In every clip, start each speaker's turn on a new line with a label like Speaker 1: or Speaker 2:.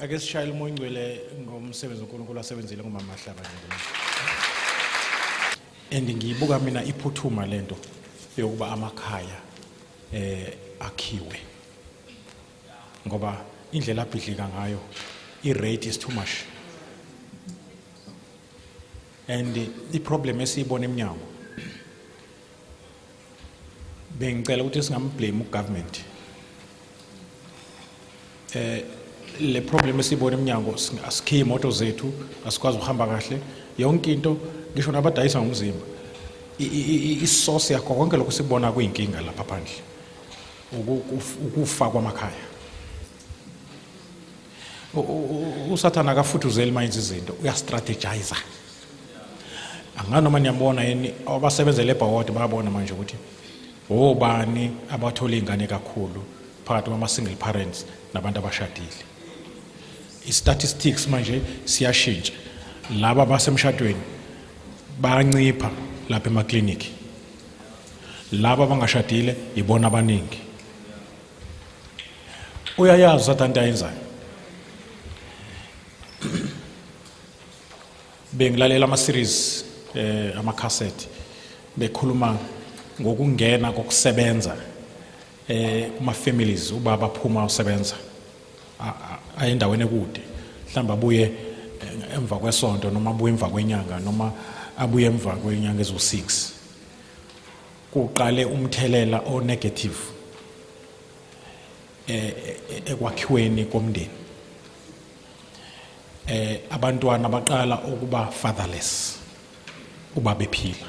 Speaker 1: ake sishayele umoya ongcwele ngomsebenzi uNkulunkulu asebenzile ngomama Mahlaba nje and ngiyibuka mina iphuthuma lento yokuba amakhaya eh akhiwe ngoba indlela abhidlika ngayo i-rate is too much and i-problem esiyibona emnyango Bengicela ukuthi singamblame ugovernment. Eh le problem esibona eminyango asikhiye imoto zethu asikwazi ukuhamba kahle yonke into ngisho nabadayisa ngomzimba isource yakho konke lokho sikubona kuyinkinga lapha phandle ukufa kwamakhaya usathane akafuthuzeli uma yenza izinto uyastrategiza anganoma niyambona yini abasebenzele ebhawodi bayabona manje ukuthi wobani abathola iy'ngane kakhulu phakathi kwama-single parents nabantu abashadile i-statistics manje siyashintsha laba basemshadweni bayancipha lapha emaklinikhi laba abangashadile yibona abaningi uyayazi usathane into ayenzayo bengilalela ama-series eh, amakhasethi bekhuluma ngokungena kokusebenza eh kuma-families ubaba aphuma usebenza ayendaweni ekude mhlawumbe abuye eh, emva kwesonto noma abuye emva kwenyanga noma abuye emva kwenyanga eziwu-six kuqale umthelela o negative eh, eh, ekwakhiweni komndeni eh abantwana baqala ukuba fatherless uba bephila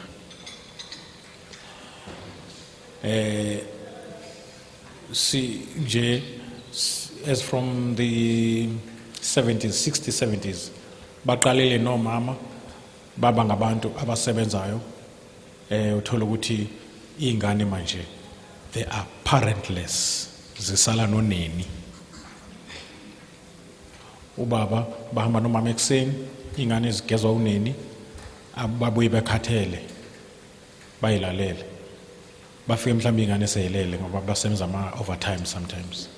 Speaker 1: eh si nje as from the 70s 60s 70s baqalele nomama baba ngabantu abasebenzayo Eh uthola ukuthi izingane manje they are parentless zisala noneni. Ubaba bahamba nomama ekseni, ingane zigezwa uneni, ababuye bekhathele bayilalele. Bafike mhlawumbe ingane seyilele ngoba basenza ama overtime sometimes.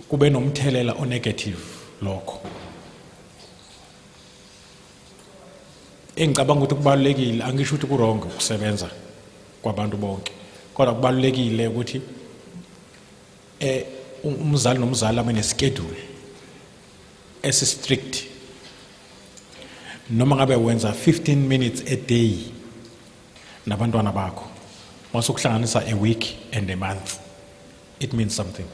Speaker 1: kube nomthelela onegative lokho engicabanga ukuthi kubalulekile angisho ukuthi kurong ukusebenza kwabantu bonke kodwa kubalulekile ukuthi eh umzali nomzali abe neschedule esi strict noma ngabe wenza 15 minutes a day nabantwana bakho mase ukuhlanganisa a week and a month it means something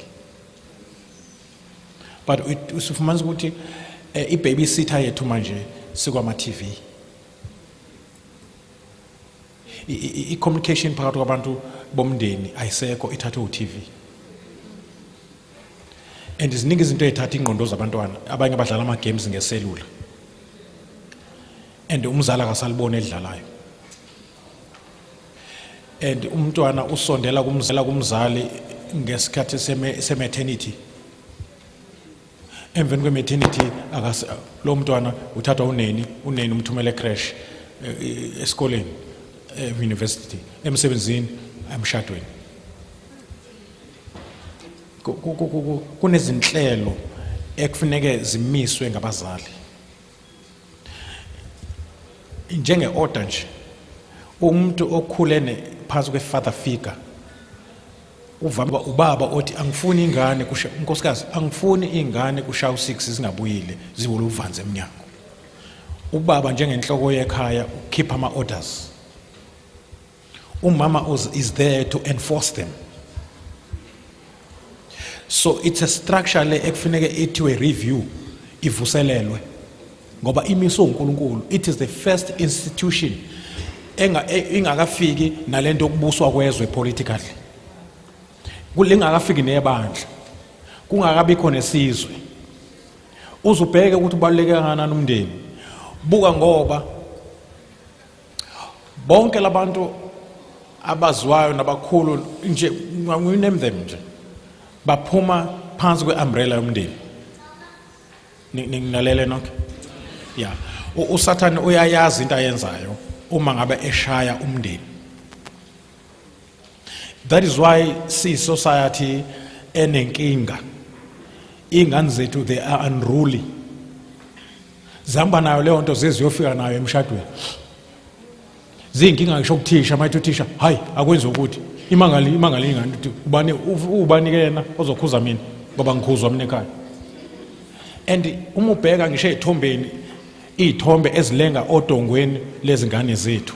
Speaker 1: but usufumanisa ukuthi eh, i-baby sitter yethu manje sikwama-tv i-communication phakathi kwabantu bomndeni ayisekho ithathwe u-tv and ziningi izinto ezithatha ingqondo zabantwana abanye abadlala ama-games ngeselula and umzali akasaliboni edlalayo and umntwana usondela kumzela kumzali ngesikhathi sematernity emveni kwematernity lo mntwana uthathwa uneni uneni umthumele crash eh, eh, esikoleni eh, university emsebenzini emshadweni kunezinhlelo ekufuneke zimiswe ngabazali njenge-order nje umuntu okhulene phansi kwe-father figure uvame ubaba othi angifuni ingane kusha unkosikazi angifuni ingane kusha u6 zingabuyile ziwulu uvanze eminyango ubaba njengenhloko yekhaya ukhipha ama orders umama is there to enforce them so it's a structure le ekufuneke ithiwe review ivuselelwe ngoba imiswe uNkulunkulu it is the first institution enga e, ingakafiki nalento okubuswa kwezwe politically kulingakafiki nebandla kungakabi khona isizwe uzubheke ukuthi ubaluleke kangakanani umndeni buka ngoba bonke labantu abaziwayo nabakhulu nje we name them nje baphuma phansi kwe-umbrella yomndeni ninginalele nonke ya usathane uyayazi into ayenzayo uma ngabe eshaya umndeni That is why si society enenkinga. Ingane zethu they are unruly. Zihamba nayo leyo nto zeziyofika nayo emshadweni. Ziyinkinga ngisho kuthisha mayithi uthisha hayi akwenze ukuthi imangali imangali ingane ukuthi ubani ubani ke yena ozokhuza mina ngoba ngikhuzwa mina ekhaya. And uma ubheka ngisho ezithombeni izithombe ezilenga odongweni lezingane zethu.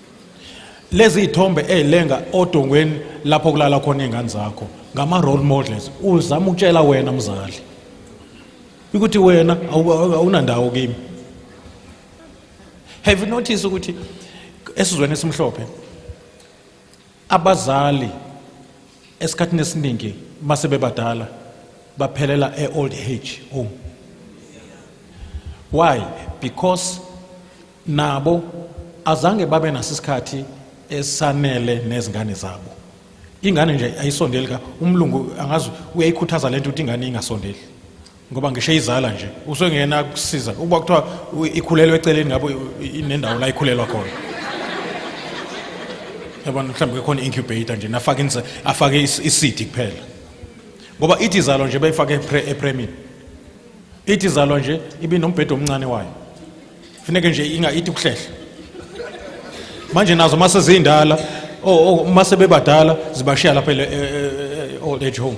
Speaker 1: lezi ithombe ezilenga odongweni lapho kulala khona izingane zakho ngama role models uzama ukutshela wena mzali ukuthi wena awunandawo kimi have you noticed ukuthi esizweni esimhlophe abazali esikhathini esiningi mase bebadala baphelela e-old age home why because nabo azange babe naso isikhathi esanele nezingane zabo ingane nje ayisondeli ka umlungu angazi uyayikhuthaza lento ukuthi ingane ingasondeli ngoba ngisho izala nje usengena kusiza ukuba kuthiwa ikhulelwe eceleni ngabo inendawo la ikhulelwa khona yabona mhlawumbe khona incubator nje nafaka inse afake isidi kuphela ngoba ithi izalo nje bayifake epremini ithi izalo nje ibinombhedo omncane wayo funeke nje ingayithi ukuhlehla manje nazo uma sezindala uma sebebadala zibashiya lapha e, e, e, old age home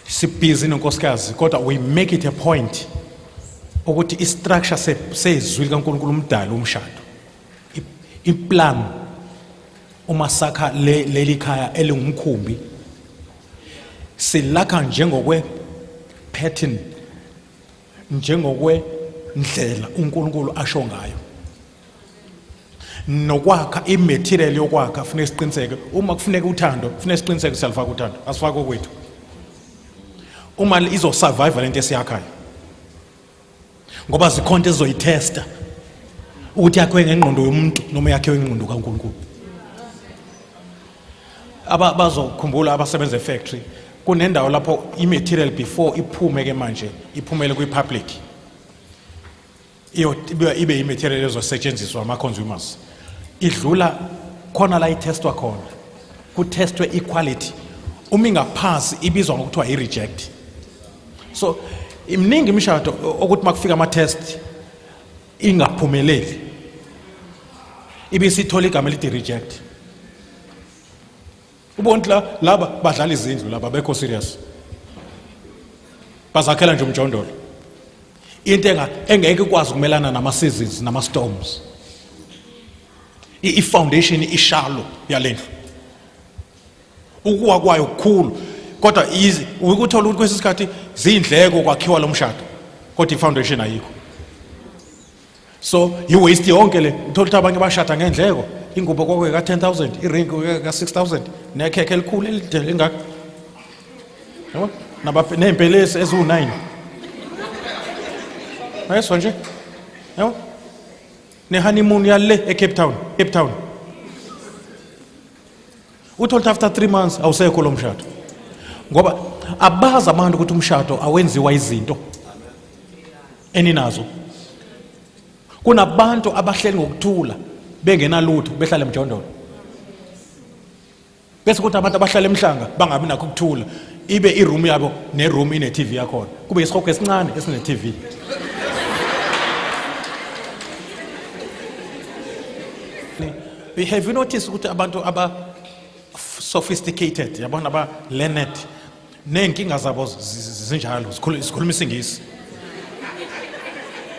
Speaker 1: sibhizi nonkosikazi kodwa we make it a point ukuthi istructure sezwi likaNkulunkulu umdali umshado iplan uma sakha le leli khaya elingumkhumbi silakha njengokwe pattern njengokwe ndlela uNkulunkulu asho ngayo nokwakha imaterial yokwakha kufanele siqiniseke uma kufuneka uthando kufanele siqiniseke siyalifaka uthando asifaki okwethu uma izosurvive lento esiyakhayo ngoba zikhonto ezizoyithesta ukuthi yakhiwe ngengqondo yomuntu noma yakhiwe ngengqondo kaNkulunkulu aba bazokhumbula abasebenza efactory kunendawo lapho imaterial before iphume ke manje iphumele kwipublic iyo ibe imaterial ezosetshenziswa ama consumers idlula khona la itestwa khona kutestwe iquality uma ingaphansi ibizwa ngokuthiwa i-reject so imningi imishado okuthi makufika ama test ingaphumeleli ibisithola igama elithi reject ubonti la laba badlala izindlu laba bekho serious bazakhela nje umjondolo into enga engeke ikwazi ukumelana nama seasons nama storms i foundation ishalo yalendlu ukuwa kwayo kukhulu kodwa ukuthola ukuthi kwesinye isikhathi ziyindleko kwakhiwa lo mshado kodwa i-foundation ayikho so yi-waste yonke le uthola ukuthi abanye bashada ngendleko ingubo kwakwe ka-10 000 iringi ka-6 000 nekhekhe elikhulu elide lingaka ney'mpelesi eziwu-9 ayeswa nje yabo nehoneymoon yale ecape town cape town Uthi ukuthi after 3 months awusekho lo mshado. Ngoba abazi abantu ukuthi umshado awenziwa izinto eninazo. Kunabantu abahleli ngokuthula bengenalutho behlala emjondolo. Bese kuthi abantu abahlala emhlanga bangabi nakho ukuthula ibe iroom yabo neroom ine TV yakhona. Kube isihogo esincane esine TV. You have you noticed ukuthi abantu aba sophisticated yabona aba learned ney'nkinga zabo zi- zi- zinjalo zikhulu- zikhuluma isingisi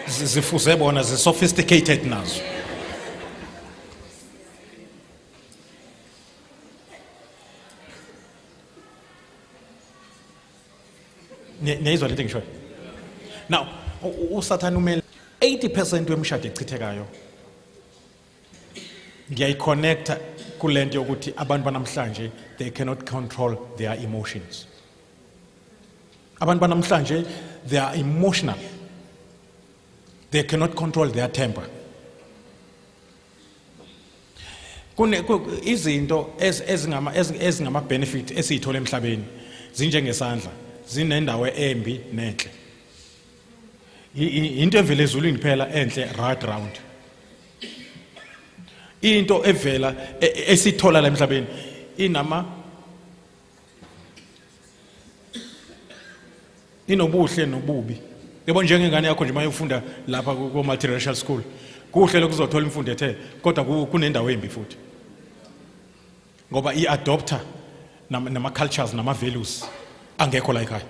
Speaker 1: Zi- zifuze bona zi-sophisticated nazo Ni- niyayizwa lento engishoyo now u- u- usathane umele 80 percent wemishado echithekayo ngiyayiconnecta kule nto yokuthi abantu banamhlanje they cannot control their emotions abantu banamhlanje they are emotional they cannot control their temper kune izinto ezingama ezingama benefit esiyithola emhlabeni zinjengesandla zinendawo embi nenhle into evela ezulwini phela enhle right round into evela e, e, esithola la emhlabeni inama inobuhle nobubi yebo njengengane yakho nje mayofunda lapha ku multiracial school kuhle lokuzothola imfundo ethe kodwa kunendawo embi futhi ngoba i adopter nama cultures nama values angekho la ekhaya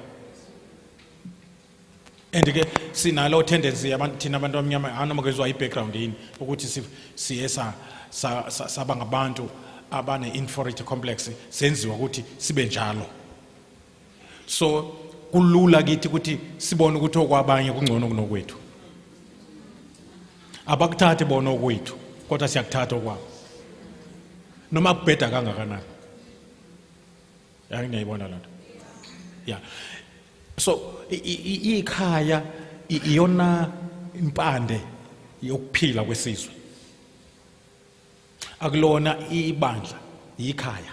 Speaker 1: and ke sinalo tendency yabantu thina abantu abamnyama anoma kezwa i background yini ukuthi siye sa saba ngabantu abane inferiority complex senziwa ukuthi sibe njalo so kulula kithi ukuthi sibone ukuthi okwabanye kungcono kunokwethu abakuthathi bona okwethu kodwa siyakuthatha okwabo noma kubheda kangakanani yangiyayibona lento ya so ikhaya iyona impande yokuphila kwesizwe akulona ibandla yikhaya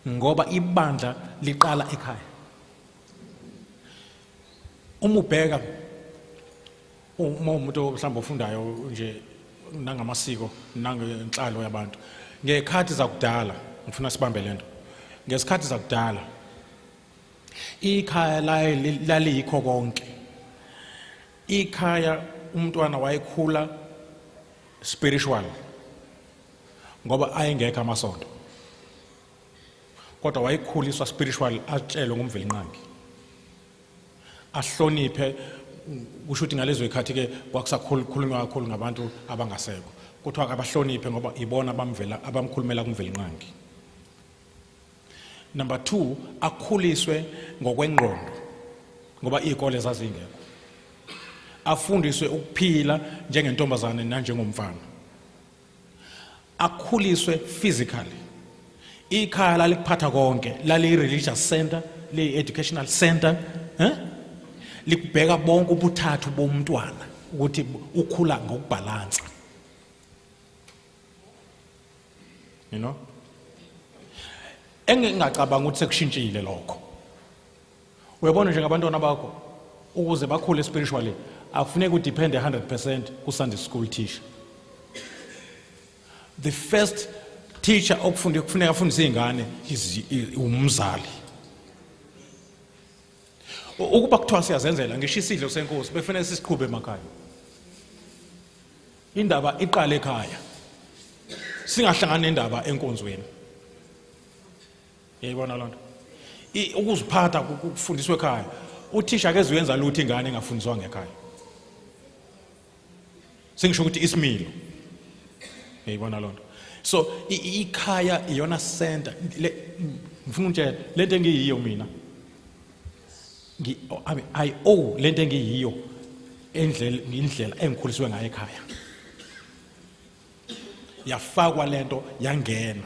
Speaker 1: ngoba ibandla liqala ekhaya uma ubheka uma umuntu mhlawumbe ofundayo nje nangamasiko nangenhlalo yabantu ngekhathi zakudala ngifuna sibambe lento ngesikhathi zakudala ikhaya laye laliyikho konke ikhaya umntwana wayekhula spiritual ngoba ayengekho amasonto kodwa wayekhuliswa spiritual atshelwe ngumvelinqangi ahloniphe kusho ukuthi ngalezo ikhathi ke kwakusakhulunywa kakhulu ngabantu abangasekho kuthiwa akabahloniphe ngoba ibona abamvela abamkhulumela kumvelinqangi Number 2 akhuliswe ngokwengqondo ngoba izikole zazingekho. Afundiswe ukuphila njengentombazane nanjengomfana. Akhuliswe physically. Ikhaya lalikuphatha konke, lali religious center, le educational center, eh? Likubheka bonke ubuthathu bomntwana ukuthi ukhula ngokubhalansa. you know engingacabanga ukuthi sekushintshile lokho uyabona nje ngabantwana bakho ukuze bakhule spiritually akufuneki udepende 100% ku Sunday school teacher the first teacher okufunda kufuneka afundise izingane umzali ukuba kuthiwa siyazenzela ngisho isidlo senkosi befanele sisiqhube emakhaya Indaba iqale ekhaya. Singahlangana nendaba enkonzweni. Yayibona lonto. Ukuziphatha kufundiswa ekhaya. Uthisha ke uyenza lutho ingane engafundiswa ngekhaya. Singisho ukuthi isimilo. Yayibona lonto. So ikhaya iyona center ngifuna ukutshela lento engiyiyo mina ngi I mean, I owe lento engiyiyo endlela indlela engikhuliswe ngayo ekhaya yafakwa lento yangena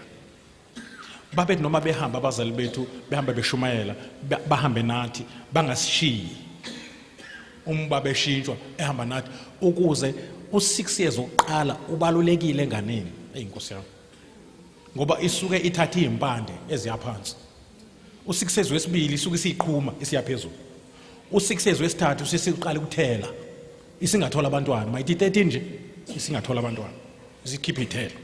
Speaker 1: babethi noma behamba abazali bethu behamba beshumayela ba- bahambe nathi bangasishiyi uma babeshintshwa ehamba nathi ukuze u6 years oqala ubalulekile enganeni eyinkosi yami ngoba isuke ithatha izimpande eziyaphansi usikisezi wesibili isuke isiyiqhuma isiya phezulu usikisezi wesithathu usesiqala ukuthela isingathola abantwana mayithi 13 nje isingathola abantwana isikhiphe ithela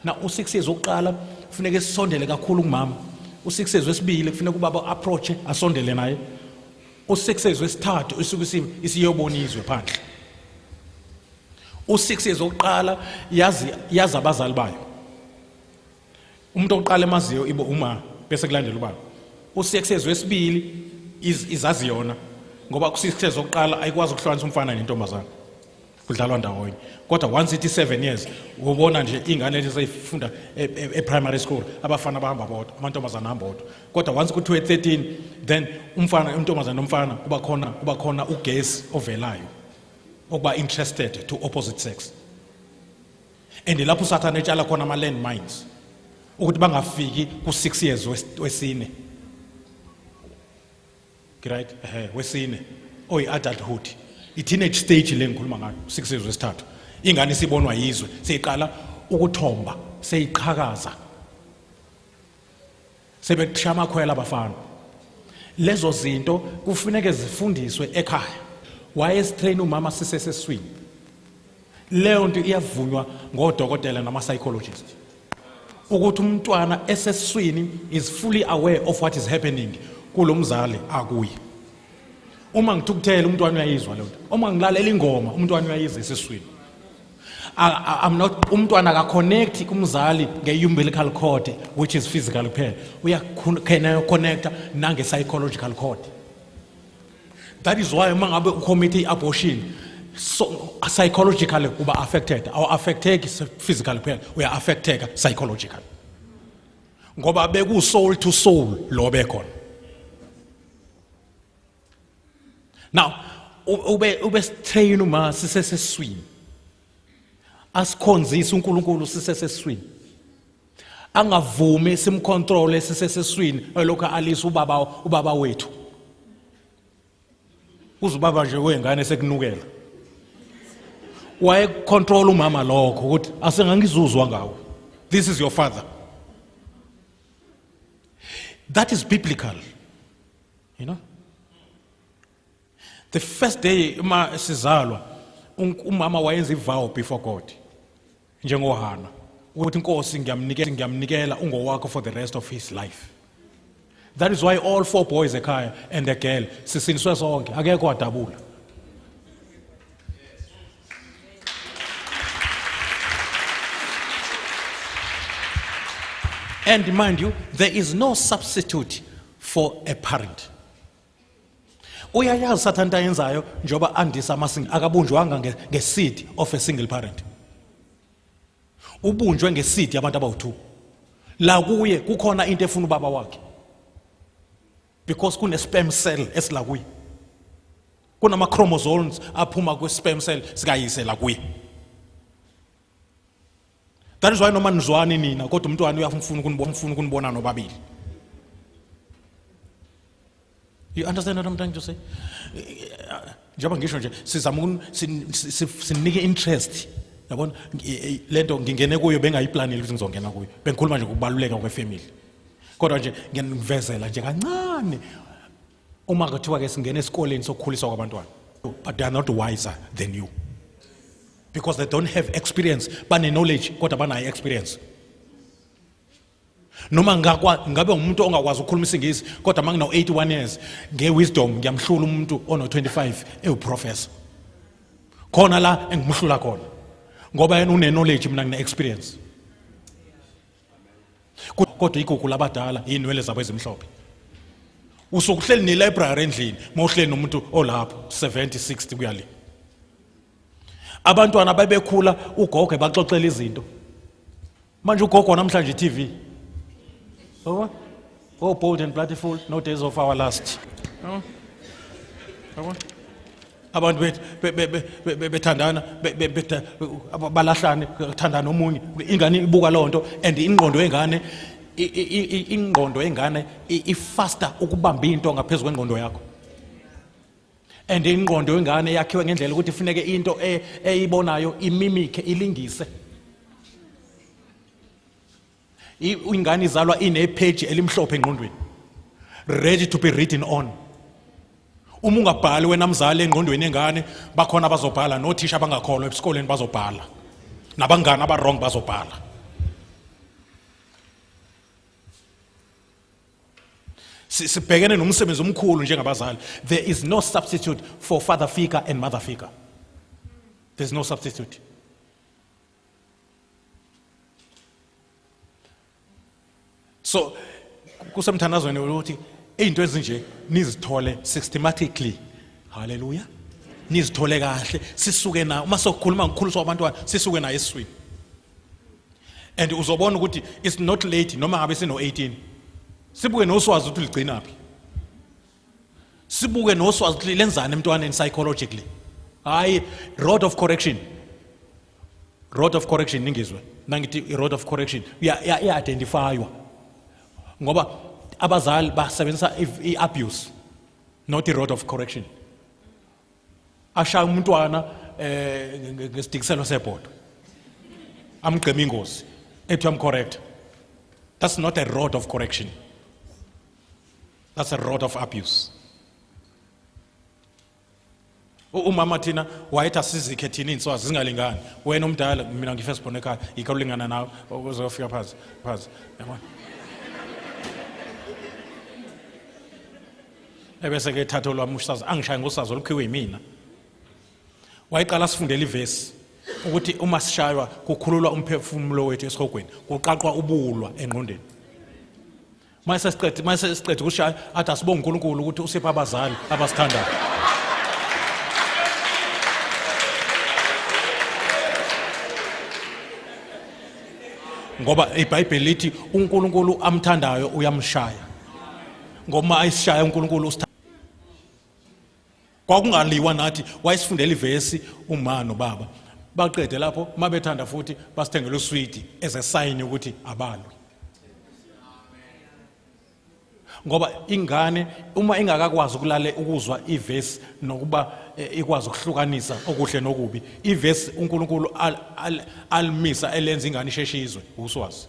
Speaker 1: na usikisezi wokuqala kufuneka sisondele kakhulu kumama usikisezi wesibili kufuneka ubaba approach asondele naye usikisezi wesithathu isuke isiyobona izwe phandle usikisezi wokuqala yazi yazi abazali bayo umuntu oqala emaziyo ibo uma bese kulandela ubaba usiyeksezo esibili izazi yona ngoba kusiyeksezo oqala ayikwazi ukuhlukanisa umfana nentombazana kudlalwa ndawonye kodwa once ithi 7 years ubona nje ingane lezi seyifunda e-primary e, e school abafana bahamba bodwa amantombazana ahamba bodwa kodwa once kuthiwe 13 then umfana intombazana nomfana kuba khona kuba khona ugesi ovelayo okuba interested to opposite sex and lapho usathane etshala khona ama-land mines ukuthi bangafiki ku-six years wesine right ehe wesine oyi-adulthood i-teenage stage le ngikhuluma ngayo six years wesithathu ingane sibonwa yizwe seyiqala ukuthomba seyiqhakaza sebekushaya amakhwela abafana lezo zinto kufuneke zifundiswe ekhaya wayesitrain umama siseseswini leyo nto iyavunywa ngodokotela nama-psychologist ukuthi umntwana eseswini is fully aware of what is happening kulo mzali akuye uma ngithukuthele umntwana uyayizwa leyo nto uma ngilalela ingoma umntwana uyayizwa eseswini I'm not umntwana ka connect kumzali nge umbilical cord which is physical kuphela uya connecta nange psychological cord that is why uma ngabe ucommit i-abortion so psychologically uba affected awu-affecteki physically kuphela uya-affecteka psychologically ngoba beku-soul to soul lo bekhona now ube ube sitrain uma siseseswini asikhonzise uNkulunkulu siseseswini angavumi simcontrole siseseswini elokhu alisa ubaba ubaba wethu uze ubaba nje wengane sekunukela waye control umama lokho ukuthi asengangizuzwa ngawo this is your father that is biblical you know the first day uma sizalwa umama wayenza ivow before god njengohana ukuthi inkosi ngiyamnikela ngiyamnikela ungowakho for the rest of his life that is why all four boys ekhaya and the girl sisiniswe sonke akekho adabula And mind you, there is no substitute for a parent. uyayazi sathane into ayenzayo njengoba andisa amasingi akabunjwanga ngesidi of a single parent ubunjwe ngesidi abantu abawu-two la kuye kukhona into efuna ubaba wakhe because kune sperm cell esila kuye kunama chromosomes aphuma kwi sperm cell sikayise la kuye that is why noma nizwani nina kodwa umntwana uyafuna ukunibona ufuna ukunibona nobabili you understand what i'm trying to say njengoba ngisho nje sizama sinike interest yabona lento ngingene kuyo bengayiplanile ukuthi ngizongena kuyo bengikhuluma nje ngokubaluleka kwefamily kodwa nje ngiyanivezela nje kancane uma kuthiwa ke singena esikoleni sokukhuliswa kwabantwana but they are not wiser than you because they don't have experience bane-knowledge kodwa banayo experience noma ngabe umuntu ongakwazi ukukhuluma isingisi kodwa uma ngino-81 years nge-wisdom ngiyamhlula umuntu ono-25 ewuprofessor khona la engimhlula khona ngoba yena une-knowledge mina ngine-experience kodwa igugu labadala iy'nwele zabo ezimhlophe usuke uhleli ne-library endlini uma uhleli nomuntu olapho 70 60 kuya le abantwana babekhula ugogo ebaxoxela izinto manje ugogo namhlanje i-tv yabo Go bold and bloody fool, no days of our last. No. Yabona? Abantu bethu be- be- be- be- be- bethandana be- be- beta- aba- balahlane kuthandana omunye ingane ibuka loo nto and ingqondo yengane i- i- i- i- ingqondo yengane i- ifaster ukubamba into ngaphezu kwengqondo yakho and ingqondo yengane yakhiwe ngendlela ukuthi ifuneke into e- eyibonayo imimikhe ilingise ingane izalwa inepage elimhlophe engqondweni ready to be written on uma ungabhali wena mzali engqondweni engane bakhona abazobhala nothisha abangakholwa esikoleni bazobhala nabangane abawrong bazobhala sibhekene nomsebenzi omkhulu njengabazali there is no substitute for father figure and mother figure there's no substitute so kusemthandazweni ukuthi izinto ezinje nizithole systematically haleluya nizithole kahle sisuke na uma sokhuluma ngikhuliswa abantwana sisuke naye eswini and uzobona ukuthi it's not late noma ngabe sino 18 sibuke noswazi ukuthi ligcinaphi sibuke noswazi ukuthi lenzani emntwaneni psychologically hayi road of correction road of correction ningizwe nangithi i-road of correction iya-identifywa ngoba abazali basebenzisa i-abuse not i-road of correction ashaya umntwana eh ngesidikiselo sebhodo amgqema ingozi ethi uyamcorrect that's not a road of correction That's a road of abuse. umama thina wayethi asizikhe thina iy'nswazi zingalingani wena omdala mina ngifirst born ekhaya yikho ulingana nawe uzofika phansi phansi yabona ebese-ke ethatha olwami usazi angishaye ngosazi olukhiwe yimina wayeqala sifundela ivesi ukuthi uma sishaywa kukhululwa umphefumulo wethu esihogweni kuqaqwa ubulwa engqondweni uma sesiqede uma sesiqede ukushaya athi asibonge uNkulunkulu ukuthi usipha abazali abasithandayo ngoba iBhayibheli lithi uNkulunkulu amthandayo uyamshaya ngoma ayisishaya uNkulunkulu kwakungaliwa nathi wayesifundela ivesi uma nobaba baqede lapho uma bethanda futhi basithengele uswidi ezesayini ukuthi abalwe ngoba ingane uma ingakakwazi ukulale ukuzwa ivesi nokuba eh, ikwazi ukuhlukanisa okuhle nokubi ivesi uNkulunkulu alimisa elenza ingane isheshizwe uswazi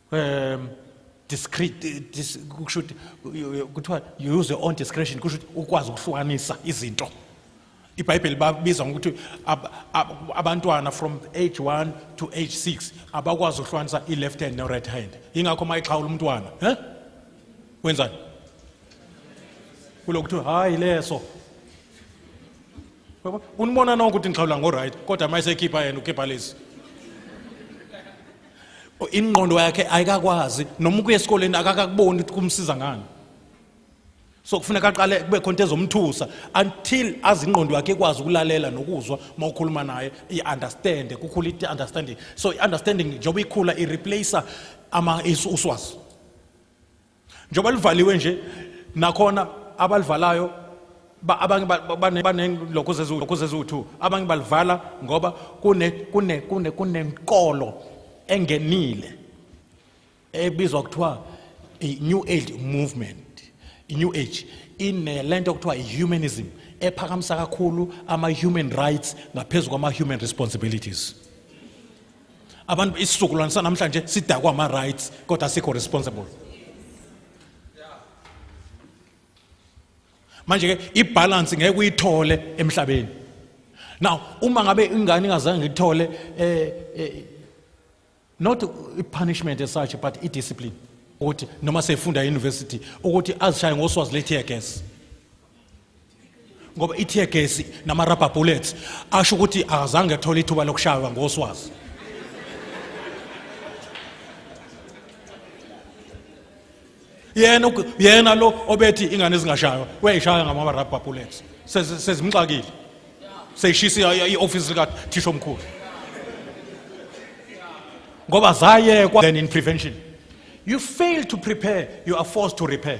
Speaker 1: um discreet eh, dis, kusho ukuthi kuthiwa you use your own discretion kusho ukuthi ukwazi ukuhlukanisa izinto ibhayibheli babiza ngokuthi ab, ab, abantwana from age 1 to age 6 abakwazi ukuhlukanisa i-left hand ne-right hand yingakho uma ixhawula umntwana eh? wenzani kulo kuthiwa hhayi leso unibona nonke ukuthi ngixhawula ngo-right kodwa uma esekhipha yena ukhipha lezi ingqondo yakhe ayikakwazi noma ukuya esikoleni akakakuboni ukuthi kumsiza ngani so kufuneka aqale kube khona into ezomthusa until azi ingqondo yakhe ikwazi ukulalela nokuzwa uma ukhuluma naye i-understande kukhula i-understanding so i-understanding njengoba ikhula i-replacer ama-uswazi njengoba livaliwe nje nakhona abalivalayo abanye banelokho zeziwu-two abanye balivala ngoba kunenkolo engenile ebizwa kuthiwa i-new age movement i-new age inele nto okuthiwa i-humanism ephakamisa kakhulu ama-human rights ngaphezu kwama-human responsibilities abantu isizukulwane sanamhlanje sidakwa ama rights kodwa sikho responsible manje ke ibalance ngeke uyithole emhlabeni now uma ngabe ingane ingazange ngithole eh, eh not i-punishment as such but i-discipline ukuthi noma sefunda e-university ukuthi azishaye ngoswazi le-tear gas ngoba i-tear gas nama-rubber bullets asho ukuthi akazange athole ithuba lokushaywa ngoswazi yena yena lo obethi ingane ezingashaywa uyayishaya ngama-rubber bullets sezimxakile seyishisa i-ofisi likathisha omkhulu ngoba zayekwa then in prevention you fail to prepare you are forced to repair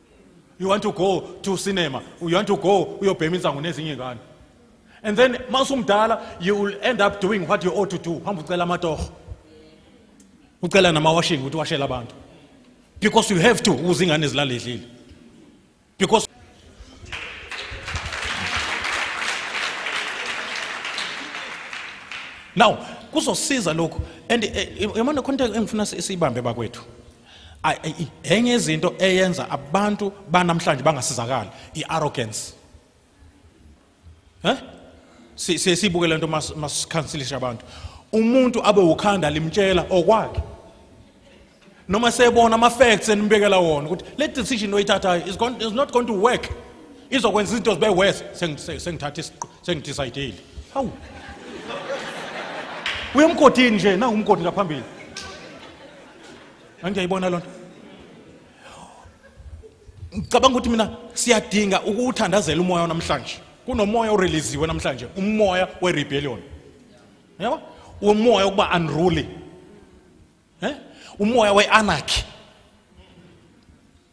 Speaker 1: you want to go to cinema you want to go uyobhema insangu nezinye ngane and then masumdala you will end up doing what you ought to do hamba ucela amatoho ucela namawashing ukuthi washela abantu because you have to ukuze ingane zilaledlile because now kuzosiza lokhu and eh, yamona khona into engifuna siyibambe bakwethu enye izinto eyenza abantu banamhlanje bangasizakali i-arrogance eh siye sibuke lento masikhansilisha abantu umuntu abe ukhanda limtshela okwakhe noma sebona ama-facts enimbekela wona ukuthi le decision oyithathayo is, going, is not going to work izokwenza izinto zibe worse sengithatha sengidicayidile hawu uyemgodini nje nangumgodi ngaphambili angiyayibona lona ngicabanga ukuthi mina siyadinga ukuwuthandazela umoya namhlanje kunomoya oreleziwe namhlanje umoya werebellion yabo umoya ukuba unruly eh umoya weanarchy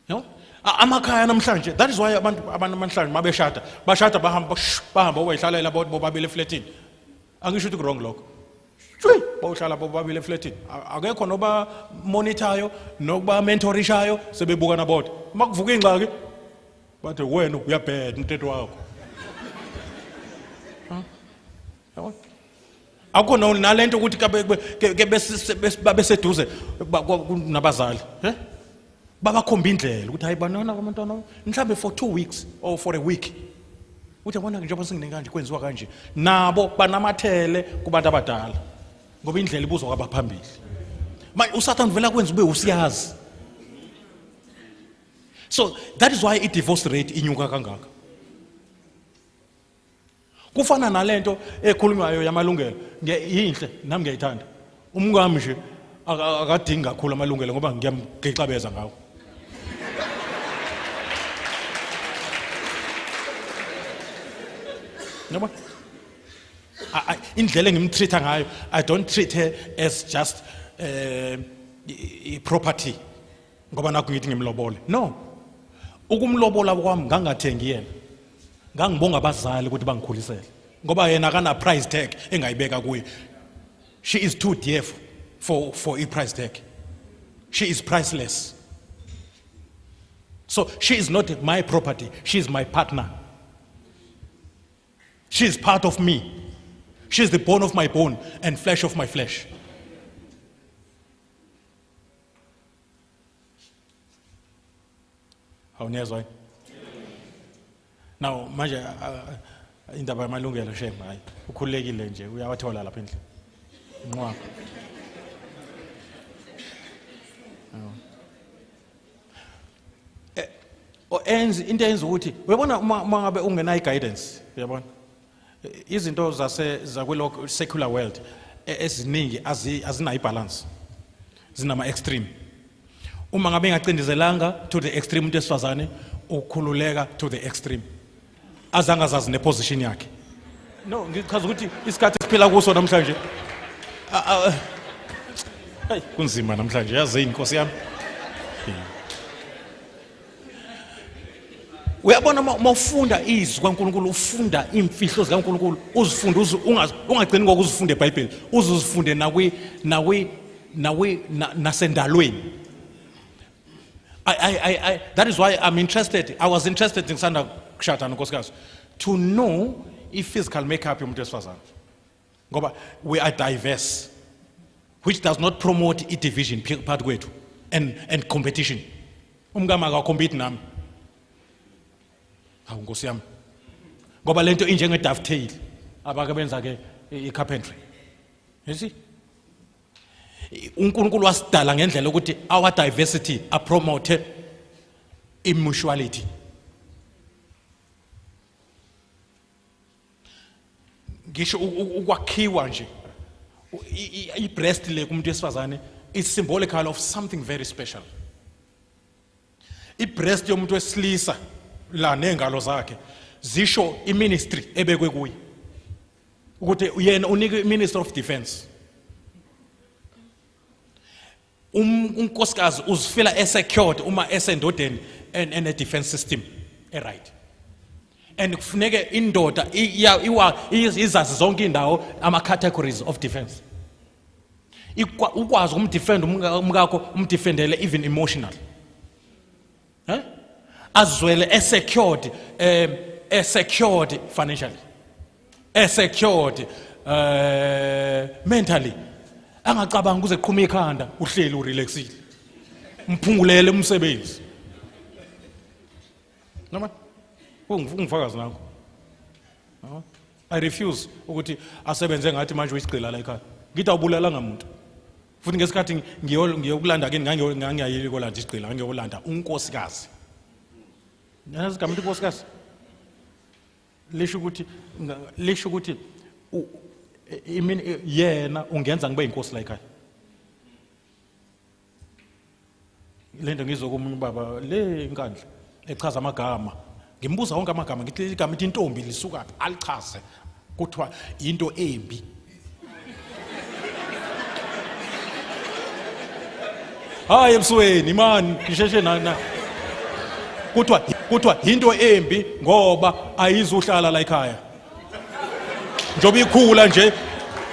Speaker 1: No? Amakhaya namhlanje that is why abantu abantu namhlanje mabeshada bashada bahamba bahamba oyihlalela bodwa bobabili eflatini. Angisho ukuthi wrong lokho. Shwi bawuhlala bobabili eflatini. Akekho noba monitorayo nokuba mentorishayo sebebukana bodwa. Makuvuka ingxaki bathe wena uyabheda umthetho wakho. Huh? Yabona? akukho no nale nto ukuthi babeseduze nabazali eh? babakhomba indlela ukuthi hayi banona abantwana mhlawumbe for two weeks or for a week uthi yabona njengoba singine kanje kwenziwa kanje nabo banamathele kubantu abadala ngoba indlela ibuzwa kwabaphambili manje usathane uvela kwenza ube usiyazi so that is why i-divorce rate inyuka kangaka kufana nalento ekhulunywayo yamalungelo yinhle nami ngiyayithanda umkami nje akadingi kakhulu amalungelo ngoba ngiyamgixabeza ngawo yabo indlela engimtreat-a ngayo i don't treat her as just um uh, property ngoba nakho ngithi ngimlobole no ukumlobola kwami ngangathengi yena ngangibonga abazali ukuthi bangikhulisele ngoba yena kana price tag engayibeka kuye she is too dear for for i price tag she is priceless so she is not my property she is my partner she is part of me she is the bone of my bone and flesh of my flesh awuniyezwa yini now manje indaba yamalungelo shem hayi ukhululekile nje uyawathola lapha endlini nqwaba enzi into eyenza ukuthi uyabona uma ngabe ungenayo i-guidance uyabona izinto zase zakwelo secular world e, eziningi azinayo ibalance zinama extreme uma ngabe engacindezelanga to the extreme umuntu esifazane ukhululeka to the extreme azange azazi neposition yakhe no ngichaza ukuthi isikhathi esiphila kuso namhlanje kunzima namhlanje yazini inkosi yami uyabona uma ufunda izwi kaNkulunkulu ufunda iimfihlo zikaNkulunkulu uzifunde ungagcini ngokuzifunde eBhayibheli uze uzifunde nakwi nakwi nakwi nasendalweni I, I, I, that is why I'm interested. I was interested in Sanda Kshatana Koskas to know if physical makeup yomuntu wesifazane. ngoba we are diverse which does not promote i division part kwethu and and competition umkama ka compete nami hawu nkosi yami ngoba lento injenge dovetail abake benza ke i carpentry you see uNkulunkulu wasidala ngendlela ukuthi our diversity a promote i mutuality ngisho ukwakhiwa nje i-breast le kumuntu wesifazane is symbolical of something very special i-breast yomuntu wesilisa la nezingalo zakhe zisho iministry ebekwe kuye ukuthi yena unika iminister of defense Um, unkosikazi uzifela esecured uma esendodeni ene defense system eright and kufuneke indoda izazi zonke indawo ama categories of defense ukwazi ukumdefend umkakho umdefendele even emotional Eh? Azwele e secured eh e secured financially. E secured eh mentally. Angacabanga kuze qhuma ikhanda uhleli urelaxile. Mphungulele umsebenzi. Noma ungifakazi nakho. Noma I refuse ukuthi asebenze ngathi manje uyisigqila la ekhaya. Ngithi awubulalanga muntu. futhi ngesikhathi ngiyokulanda kini ngangiyayile kolanda isigqila ngangiyokulanda unkosikazi nazi igama inkosikazi lisho ukuthi lisho ukuthi imini yena ungenza ngibe inkosi la ekhaya lento ngizwe komunye ubaba le inkandla echaza amagama ngimbuza wonke amagama ngithi leli gama ithi intombi lisukaphi alichaze kuthiwa into embi hayi ebusweni imani ngisheshe nana kuthiwa kuthiwa into embi ngoba ayizuhlala la ekhaya njengoba ikhula nje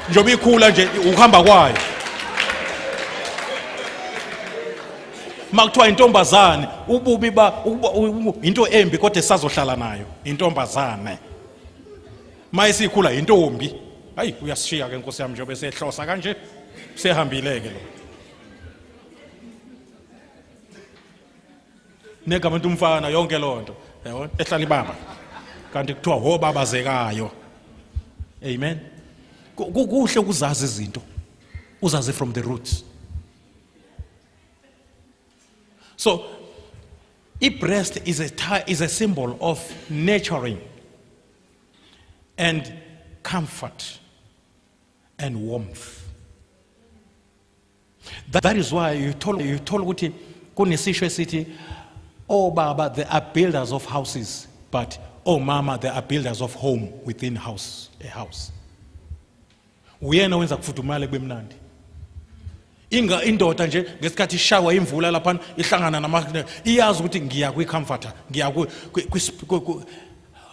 Speaker 1: njengoba ikhula nje ukuhamba kwayo uma kuthiwa intombazane ububi ba into embi kodwa esazohlala nayo intombazane uma isikhula yintombi hayi uyasishiya ke nkosi yami njengoba esehlosa kanje sehambile-ke lo negama into umfana yonke loo nto yabona ehlala ibaba kanti kuthiwa hobabazekayo amen kuhle ukuzazi izinto uzazi from the roots so i-breast is a, is a symbol of nurturing and comfort and warmth that is why you told you told ukuthi kunesisho esithi oh baba they are builders of houses but oh mama they are builders of home within house a house uyena wenza kufudumale kubemnandi inga indoda nje ngesikhathi ishawa imvula lapha ihlangana nama iyazi ukuthi ngiya kwi comforter ngiya kwi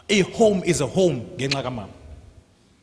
Speaker 1: a home is a home ngenxa kamama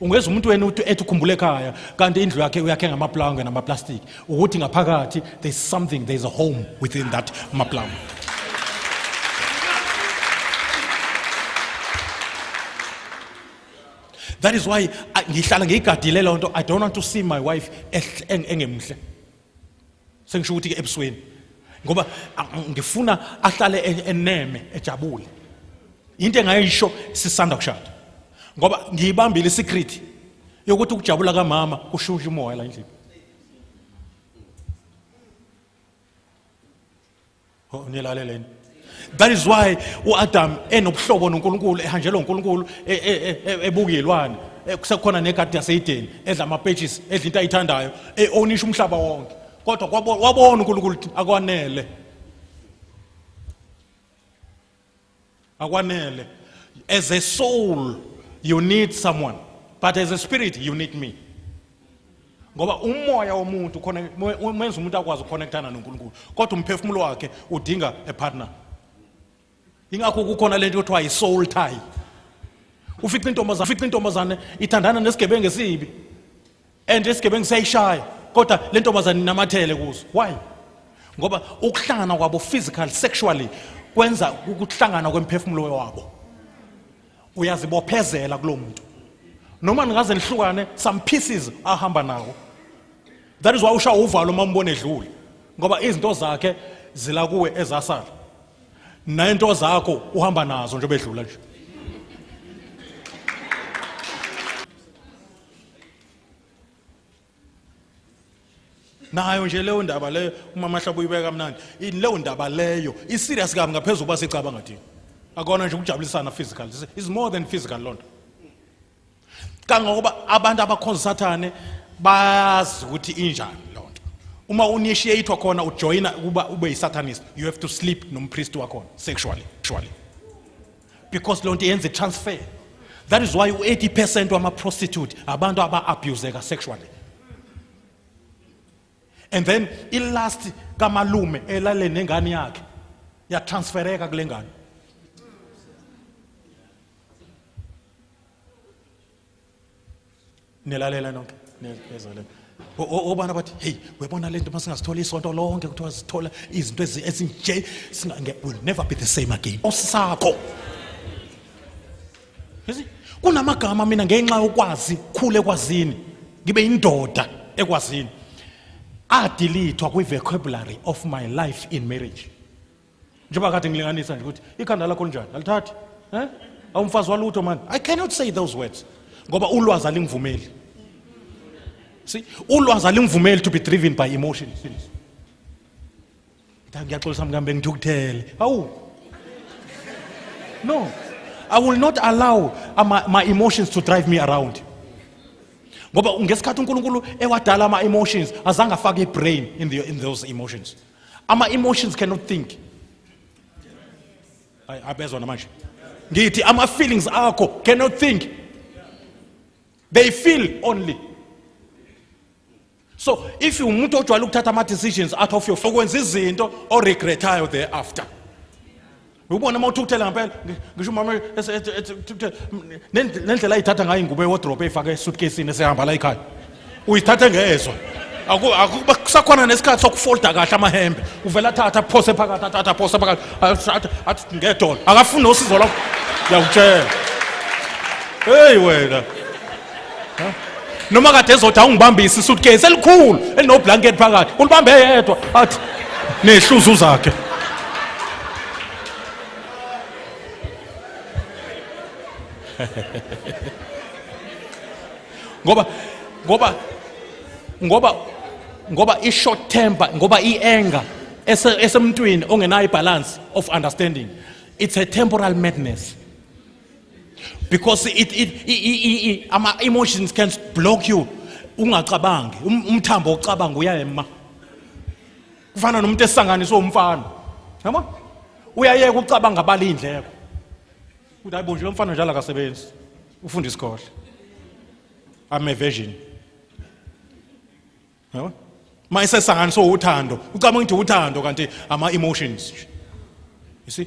Speaker 1: ungeza umuntu wena ethi ukhumbule ekhaya kanti indlu yakhe uyakhe ngamaplanga namaplastiki ukuthi ngaphakathi there's something there's a home within that maplanga that is why ngihlala ngiyigadile loo nto i don't want to see my wife engemhle sengisho ukuthi ke ebusweni ngoba ngifuna ahlale e-, eneme ejabule into engayisho sisanda kushada ngoba ngiyibambile isecret yokuthi ukujabula kamama kushusha umoya la endlini Oh, nilaleleni that is why uAdam enobuhlobo noNkulunkulu ehanjelwa uNkulunkulu e, e, e, ebukilwane kusekhona negadi yaseYideni edla amapages edla into ayithandayo eonisha umhlaba wonke kodwa wabona uNkulunkulu akwanele akwanele as a soul you need someone but as a spirit you need me ngoba umoya womuntu khona menza umuntu akwazi ukuconnectana noNkulunkulu kodwa umphefumulo wakhe udinga a partner ingakho kukhona lento yothiwa i-soul tie ufica intombazane ufica intombazane ithandana nesigebengu esibi and isigebengu siyayishaya kodwa le ntombazane inamathele kuzo why ngoba ukuhlangana kwabo physical sexually kwenza ukuhlangana kwemphefumulo wabo uyazibophezela kulo muntu noma ningaze nihlukane some pieces ahamba nawo that is why usha uvalo uma umbona edlule ngoba izinto zakhe zila kuwe ezasala nento zakho uhamba nazo njengoba edlula nje nayo nje leyo ndaba leyo umama hlaba uyibeka kamnandi ini leyo ndaba leyo iserious kabi ngaphezulu kuba sicabanga thina akona nje ukujabulisana physical This is more than physical loo nto kangangokuba abantu abakhonza sathane bayazi ukuthi injani loo nto uma unishiyathwa khona ujoyina ukuba ube yisatanist you have to sleep nompristi wakhona sexually sexually because lonto yenza transfer that is why u80% wama prostitute abantu aba abuseka sexually and then i last kamalume elale nengane yakhe ya transfereka kulengane nilalela nonke nezalela obana bathi hey webona lento uma singasithola isonto lonke kuthiwa sithola izinto ezinje will never be the same again osisakho kunamagama mina ngenxa yokwazi khule kwazini ngibe indoda ekwazini adilithwa kwi-vocabulary of my life in marriage njengoba kade ngilinganisa nje ukuthi ikhanda lakho linjani alithathi eh awumfazi walutho manje i cannot say those words ngoba ulwazi alingivumeli see ulwazi alingivumeli to be driven by emotions ngiyaxolisa mkambe ngithukuthele hawu no i will not allow my, my emotions to drive me around ngoba ngesikhathi unkulunkulu ewadala ama-emotions azange afake i-brain in, the, in those emotions ama emotions cannot think abezwa namanje ngithi ama feelings akho cannot think they feel only so if umuntu ojwayele ukuthatha ama decisions out of your okwenza izinto o regretayo thereafter ubona uma uthukuthela ngampela ngisho umama ethukuthela nendlela ayithatha ngayo ingubo ewodrobe eyifake esutkesini esehamba la ekhaya uyithathe ngezwa akusakhona nesikhathi sokufolda kahle amahembe uvele athathe aphose phakathi athathe aphose phakathi athi ngedolo akafuni nosizo lwakho ngiyakutshela heyi wena noma kade ezothi awungibambisi suitcase elikhulu elinoblanket phakathi ulibambe yedwa athi nehluzu zakhe ngoba ngoba ngoba ngoba i-short temper ngoba i-anger esemntwini ongenayo i-balance of understanding it's a temporal madness because it, it, it, it, ama emotions can block you ungacabangi um, umthambo ocabanga uyayema kufana nomuntu esanganiswe umfana yabo uyayeka ucabanga abala indleko ukuthi hayibo nje lomfana njalo akasebenzi ufunda isikole i'm a virgin yabo uma isesanganiswe uthando ucabanga ukuthi uthando kanti ama emotions you see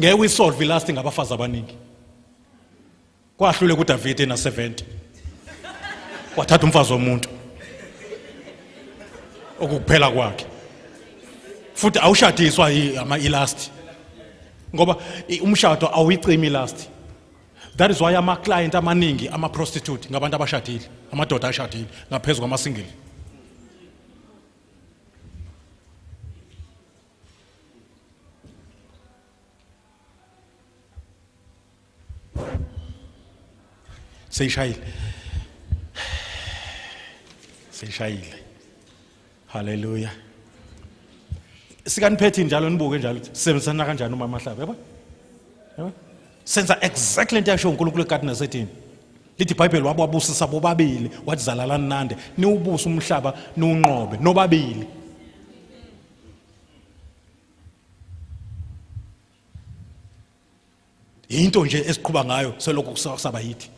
Speaker 1: ngeke uyisolve ilast ngabafazi abaningi kwahlule kuDavid ena 70 wathatha umfazi womuntu okukuphela kwakhe futhi awushadiswa ama ilast ngoba umshado awuyicimi ilast that is why ama client amaningi ama prostitute ngabantu abashadile amadoda ashadile ngaphezulu kwama single seyishayile seyishayile haleluya sikaniphethi njalo nibuke njalo sisebenzisana kanjani umama hlaba yabo yabo senza exactly into yasho uNkulunkulu egadini nasethini lithi ibhayibheli wababusisa bobabili wathi zalalani nande niwubuse umhlaba niwunqobe nobabili yinto nje esiqhuba ngayo selokhu kusaba yithi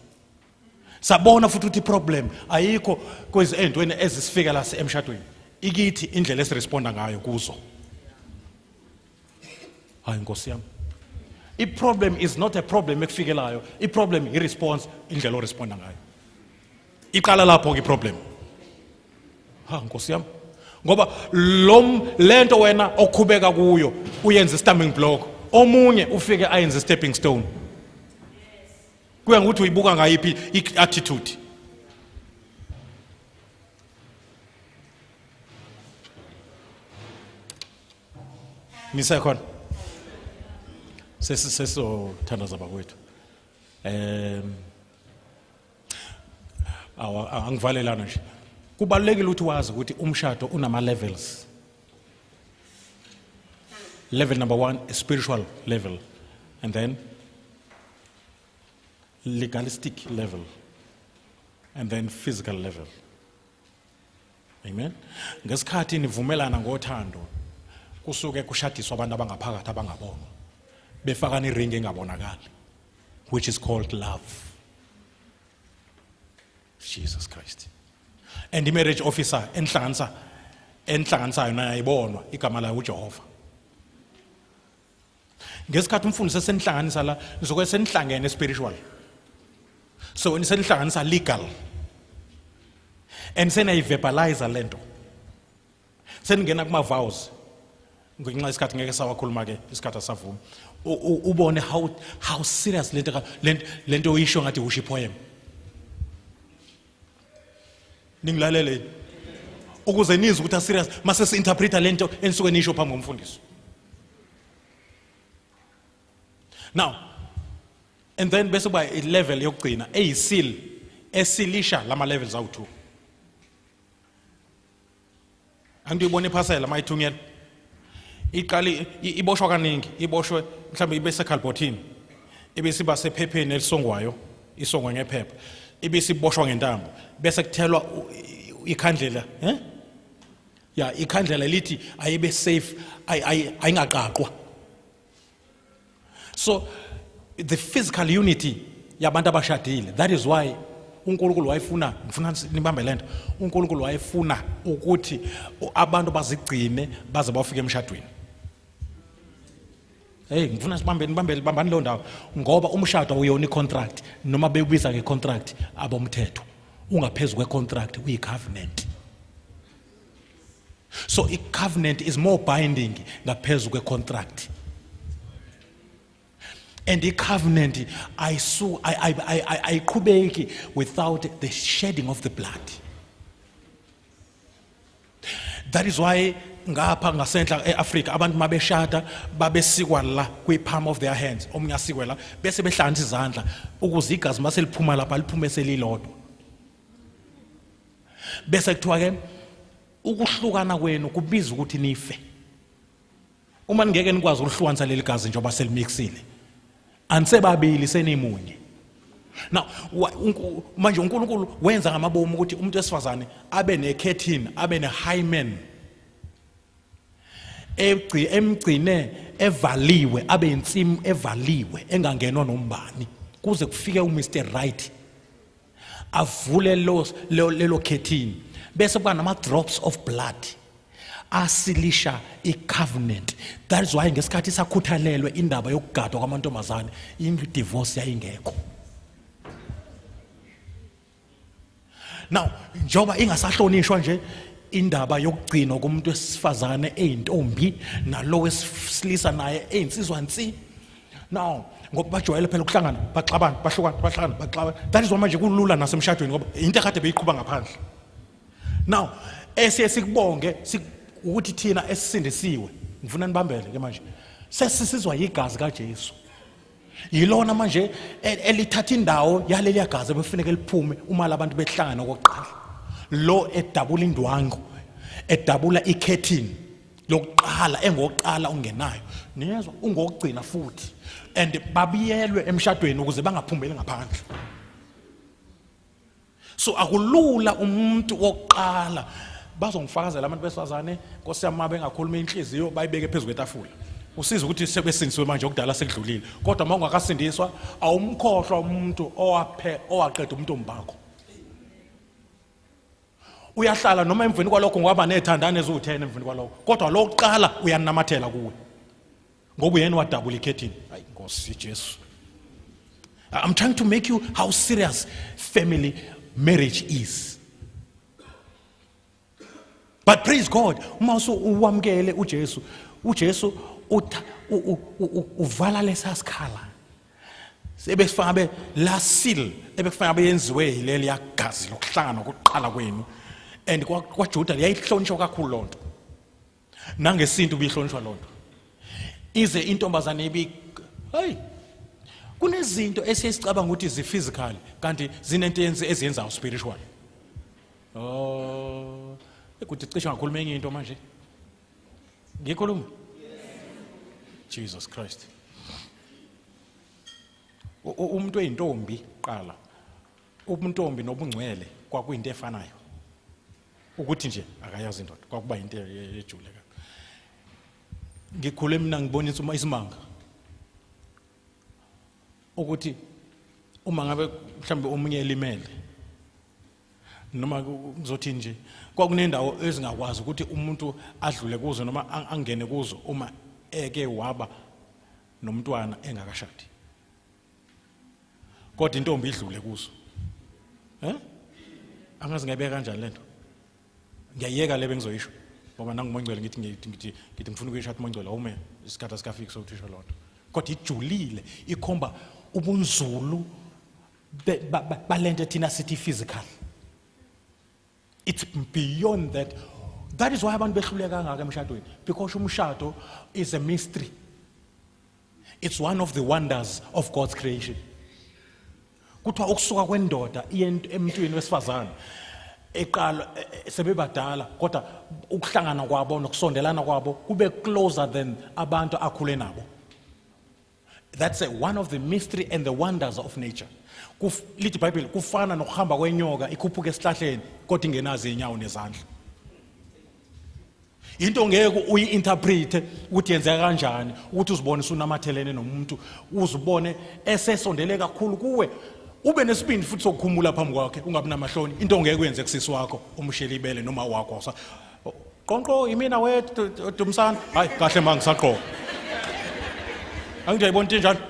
Speaker 1: sabona futhi ukuthi problem ayikho kwezi entweni ezisifika la emshadweni ikithi indlela esiresponda ngayo kuzo hayi nkosi yami iproblem is not a problem ekufikelayo iproblem iresponse indlela oresponda ngayo iqala lapho ke problem ha nkosi yami ngoba lom lento wena okhubeka kuyo uyenza istamming block omunye ufike ayenza stepping stone kuya ngokuthi uyibuka ngayiphi i-attitude ngisekhona sesisesizothandaza bakwethu um angivalelana nje kubalulekile ukuthi wazi ukuthi umshado unama levels level number 1 is spiritual level and then legalistic level and then physical level Amen. Ngesikhathi nivumelana ngothando kusuke kushadiswa abantu abangaphakathi abangabonwa befaka ni ring engabonakali which is called love. Jesus Christ. And the marriage officer enhlanganisa enhlanganisayo naye ayibonwa igama layo uJehova. ngesikhathi umfundisi esenihlanganisa la nizoke senihlangene spiritual so nisenihlanganisa legal and senayiverbalize le nto seningena kuma-vows ngenxa isikhathi ngeke sawakhuluma ke isikhathi asavumi ubone how how serious lento lento oyisho ngathi usho ipoem ningilalele yini ukuze nizwe ukuthi aserious mase si-interpreta le nto enisuke niyisho phambi komfundisi now and then bese kuba ilevel yokugcina eyisil esilisha lama levels awu-two angiyibona iphasela mayithunyelwa iqali iboshwa kaningi iboshwe mhlawumbe ibe sekhalbhothini ibe siba sephepheni elisongwayo isongwe ngephepha ibe siboshwa ngentambo bese kuthelwa ikhandlela eh ya ikhandlela lithi ayibe safe ayingaqaqwa so the physical unity yabantu abashadile that is why uNkulunkulu wayefuna ngifuna nibambe lento uNkulunkulu wayefuna ukuthi abantu bazigcine baze bafike emshadweni hey ngifuna sibambe nibambele bambani lo ndawo ngoba umshado awuyona icontract noma bewubiza ngecontract abomthetho ungaphezulu kwecontract uyicovenant so i-covenant is more binding ngaphezu kwe-contract and i-covenant ayiqhubeki without the shedding of the blood that is why ngapha ngasentla e-afrika abantu uma beshada babesikwa la kwi-palm of their hands omunye asikwe la bese behlanganisa izandla ukuze igazi uma seliphuma lapha liphume selilodwa bese kuthiwa ke ukuhlukana kwenu kubiza ukuthi nife uma ningeke nikwazi ukuhlukanisa leli gazi njengoba selimixile anisebabili senimunye now manje uNkulunkulu wenza ngamabomu ukuthi umuntu wesifazane abe nekhethin abe nehymen egci emgcine evaliwe abe insimu evaliwe engangenwa nombani kuze kufike uMr right avule lelo khethini bese kuba nama-drops of blood asilisha i-covenant that is why ngesikhathi sakhuthalelwe indaba yokugadwa kwamantombazane i-divorce yayingekho now njengoba ingasahlonishwa nje indaba yokugcinwa komuntu wesifazane eyintombi nalo wesilisa naye eyinsizwa nsi now ngoba bajwayele phela ukuhlangana baxabana bahlukana bahlangana baxabana that is why manje kulula nasemshadweni ngoba into ekade beyiqhuba ngaphandle now esiye sikubonge ukuthi thina esisindisiwe ngifuna nibambele ke manje sesisizwa yigazi kaJesu yilona manje e, elithatha indawo yaleliya gazi ebefuneka liphume uma labantu behlangana kokuqala lo edabula indwangu edabula ikhethini yokuqala engokuqala ungenayo niyezwa ungokugcina futhi and babiyelwe emshadweni ukuze bangaphumeli ngaphandle so akulula umuntu wokuqala bazongifakazela abantu besifazane nkosi yami uma bengakhuluma inhliziyo bayibeke phezu kwetafula usiza ukuthi sebesindisiwe manje okudala sekudlulile kodwa uma ungakasindiswa awumkhohlwa umuntu owaqeda umuntu ombakho uyahlala noma emveni kwalokho ngoba nethandane eziwu-10 emveni kwalokho kodwa lo kuqala uyanamathela kuwe ngoba uyena wadabula ikhethini hayi nkosi jesu i'm trying to make you how serious family marriage is but praise god uma uwamukele ujesu ujesu uvala lesasikhala ebekufanele abe la seal ebekufanele abe yenziwe yileli yagazi lokuhlangana kokuqala kwenu and kwaJuda yayihlonishwa kakhulu loo nto nangesintu bihlonishwa loo nto ize intombazane ibi hayi kunezinto esiyicabanga ukuthi zi-physical kanti zinento yenzi eziyenzayo spiritual oh ekuthi cishe ngakhuluma enye into manje ngikhuluma jesus christ umuntu oyintombi qala ubuntombi nobungcwele kwakuyinto efanayo ukuthi nje akayazi indoda kwakuba yinto ejule ka ngikhule mina ngibonisa uma isimanga ukuthi uma ngabe mhlawumbe omunye elimele noma kuzothini nje kwakunendawo ezingakwazi ukuthi umuntu adlule kuzo noma angene kuzo uma eke waba nomntwana engakashadi kodwa intombi idlule kuzo eh angazi ngayibeka kanjani lento ngiyayeka le bengizoyisho ngoba nangumongcwele ngithi ngithi ngithi ngithi ngifuna ukuyishada umongcwele awume isikhathi asikafiki sokuthisha lonto kodwa ijulile ikhomba ubunzulu balento thina sithi physical it's beyond that that is why abantu behluleka kangaka emshadweni because umshado is a mystery it's one of the wonders of God's creation kuthiwa ukusuka kwendoda iye emntwini wesifazane eqala e, e, sebebadala kodwa ukuhlangana kwabo nokusondelana kwabo kube closer than abantu akhule nabo That's a, one of the mystery and the wonders of nature. Kuf, lithi Bible kufana nokuhamba kwenyoka ikhuphuka esihlahleni kodwa ingenazi inyawo nezandla. Into ngeke uyi-interpret ukuthi yenzeka kanjani ukuthi uzibone sunamathelene nomuntu uzibone esesondele kakhulu kuwe ube nesibindi futhi sokukhumula phambi kwakhe ungabi namahloni into ngeke uyenze kusisi wakho umshele ibele noma wakho Qonqo imina we Dumsana. Hayi kahle ma ngisaqoqa. Angithi yayibona into enjalo.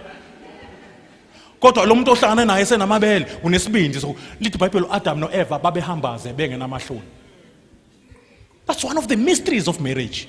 Speaker 1: Kodwa lo muntu ohlangana naye senamabele unesibindi so lithi iBhayibheli uAdam noEva babehambaze bengenamahloni. That's one of the mysteries of marriage.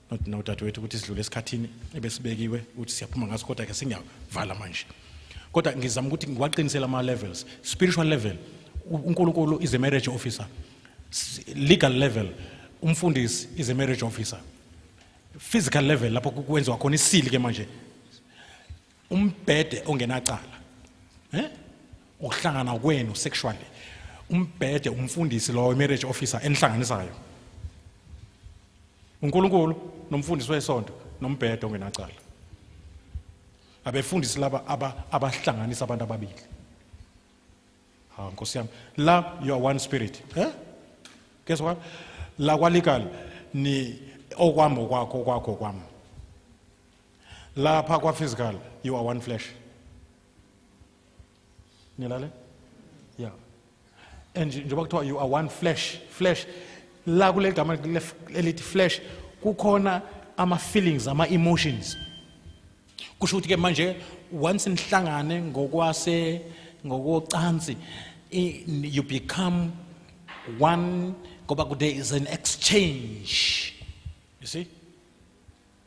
Speaker 1: not now dadewethu ukuthi sidlule esikhathini ebesibekiwe ukuthi siyaphuma ngaso kodwa ke singiyavala manje kodwa ngizama ukuthi ngiwaqinisele ama levels spiritual level uNkulunkulu is a marriage officer legal level umfundisi is a marriage officer physical level lapho kwenziwa khona isili ke manje umbhede ongenacala eh ukuhlangana kwenu sexually umbhede umfundisi lowo imarriage officer enihlanganisayo uNkulunkulu nomfundisi wesonto nombhede ongenacala abefundisi laba abahlanganisa abantu ababili ha nkosi yami la you are one spirit eh guess what la kwalikal ni okwami okwakho okwakho okwami lapha kwa physical you are one flesh nilale yeah and njengoba kuthiwa you are one flesh flesh la kule gama elithi flesh kukhona ama feelings ama emotions kusho ukuthi ke manje once nihlangane ngokwase ngokocansi you become one ngoba there is an exchange you see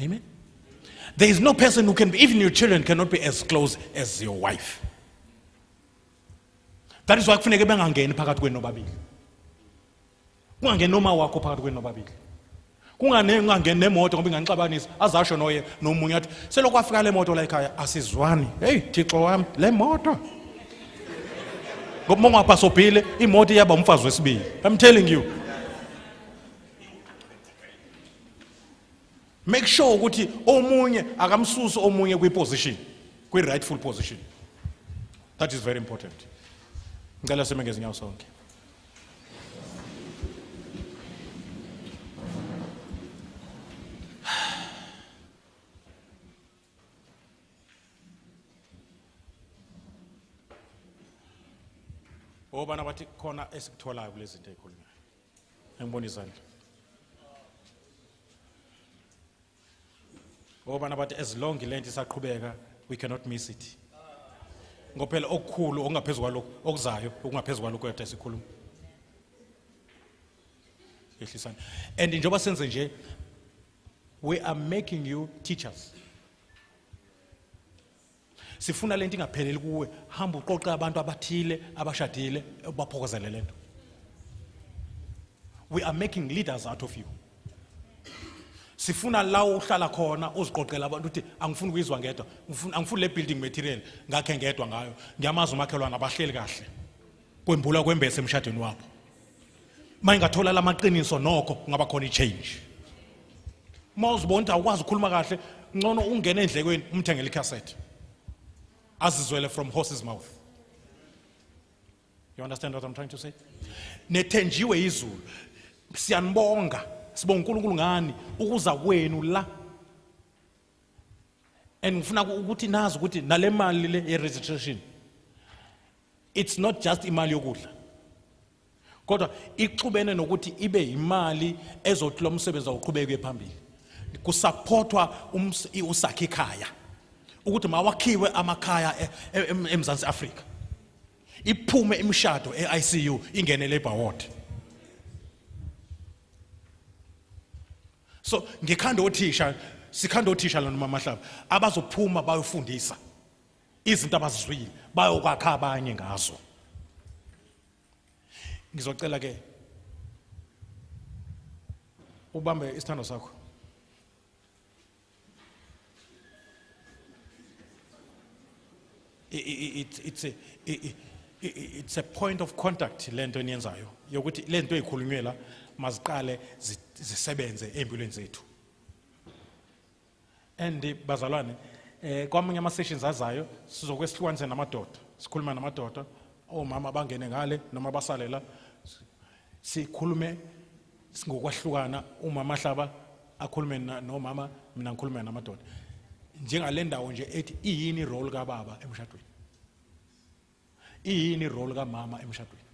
Speaker 1: Amen. There is no person who can be, even your children cannot be as close as your wife. That is why kufuneke bengangeni phakathi kwenu nobabili. Kungangeni noma wakho phakathi kwenu nobabili. Kungane ungangeni nemoto ngoba inganixabanisa azasho noye nomunye athi selokhu afika le moto la ekhaya asizwani. Hey Thixo wami le moto. Ngoba mongapha sobhile imoto iyaba umfazi wesibili. I'm telling you. make sure ukuthi omunye akamsusi omunye kwiposition kwi-rightful position that is very important ngicela sime ngezinyawo sonke obana bathi khona esikutholayo kulezi zinto ezikhulunywa angibona izandla ngoba nabathi as long lento isaqhubeka we cannot miss it ngophela okukhulu okungaphezulu kwalokho okuzayo okungaphezulu kwalokho yadda sikhuluma yehlisana and njengoba senze nje we are making you teachers sifuna lento ingapheleli kuwe hamba uqoqe abantu abathile abashadile ubaphokozele lento we are making leaders out of you sifuna la uhlala khona uziqoqela abantu uthi angifuni ukuyizwa ngedwa angifuni le building material ngakhe ngedwa ngayo ngiyamazi umakhelwane abahleli kahle kwembula kwembese emshadweni wabo uma ingathola la maqiniso nokho kungaba khona i-change uma uzibona ukuthi awukwazi ukukhuluma kahle ngcono ungene endlekweni umthengele ikhasethi azizwele from horse's mouth you understand what i'm trying to say nethenjiwe izulu siyanibonga sibonga uNkulunkulu ngani ukuza kwenu la and ngifuna ukuthi nazi ukuthi nale mali le ye registration It's not just imali yokudla. Kodwa ixubene nokuthi ibe imali ezothi lo msebenzi awuqhubeke phambili. Kusupportwa usakhe ikhaya. Ukuthi mawakhiwe amakhaya e, e, eMzansi Afrika. Iphume imishado eICU ingene labor ward. So ngikhanda othisha sikhanda othisha lona mama Hlaba abazophuma bayofundisa. izinto abazizwile bayokwakha abanye ngazo ngizocela ke ubambe isithando sakho it's a, it's a point of contact lento eniyenzayo yokuthi lento ezikhulunywe la maziqale zisebenze empilweni zethu and eh, bazalwane eh kwamunye ama sessions azayo sizokwesihlukanise namadoda sikhuluma namadoda omama oh, bangene ngale noma basalela sikhulume singokwahlukana umama hlaba akhulume nomama mina ngikhulume namadoda njengale ndawo nje ethi iyini role kababa emshadweni iyini irole kamama emshadweni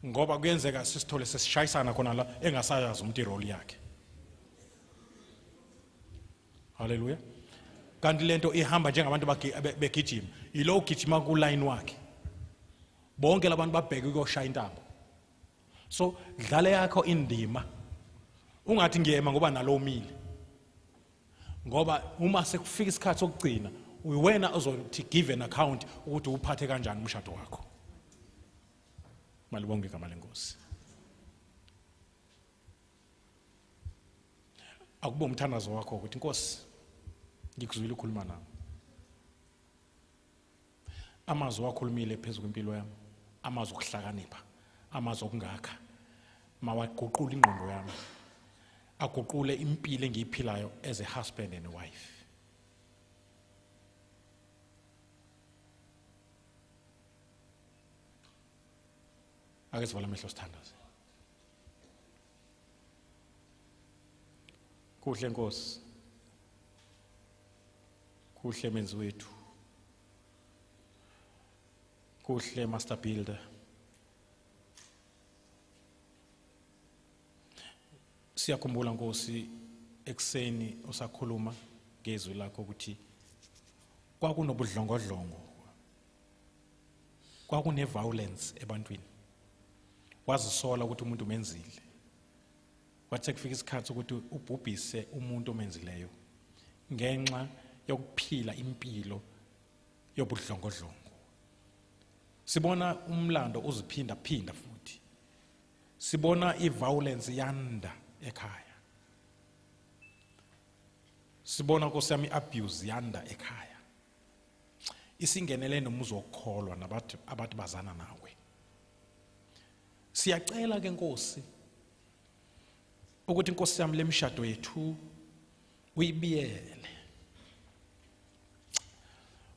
Speaker 1: ngoba kuyenzeka sisithole sesishayisana khona la engasayazi umuntu irole yakhe haleluya kanti lento ihamba njengabantu begijima yilo ugijima kuline wakhe bonke labantu babheke ukuyoshaya intambo so dlale yakho indima ungathi ngiyema ngoba nalo umile ngoba uma sekufika isikhathi sokugcina uyiwena ozothi give an account ukuthi uphathe kanjani umshado wakho malibonge igama lenkosi akube umthandazo wakho ukuthi inkosi ngikuzwile ukhuluma nami Amazwi owakhulumile phezu kwempilo yami, amazwi okuhlakanipha, amazwi okungakha, mawaguqule ingqondo yami, aguqule impilo engiyiphilayo as a husband and a wife. Ake sivala amehlo sithandaze. Kuhle Nkosi. Kuhle menzi wethu. Kuhle master builder. Siyakhumbula Nkosi ekseni usakhuluma ngezwi lakho ukuthi kwakunobudlongodlongo kwakune violence ebantwini wazisola ukuthi umuntu umenzile Wathe kufika isikhathi ukuthi ubhubhise umuntu omenzileyo ngenxa yokuphila impilo yobudlongodlongo. Sibona umlando uziphinda phinda futhi. Sibona iviolence yanda ekhaya. Sibona kosiyami abuse yanda ekhaya. isingenele nomuzi wokukholwa nabathi abathi bazana nawe siyacela ke nkosi ukuthi inkosi yami lemshado yethu uyibiyele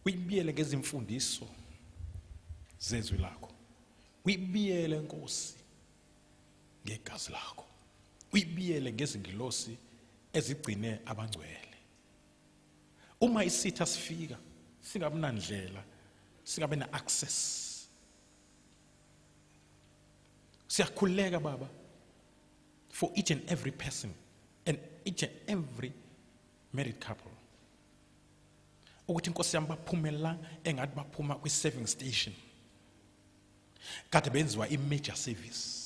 Speaker 1: uyibiyele ngezimfundiso zezwi lakho uyibiyele nkosi ngegazi lakho uyibiyele ngezingilosi ezigcine abangcwele uma isitha sifika singabi nandlela singabe na access siyakhuleka baba for each and every person and each and every married couple ukuthi inkosi yami baphume la engathi baphuma kwi-serving station kade benziwa i-major service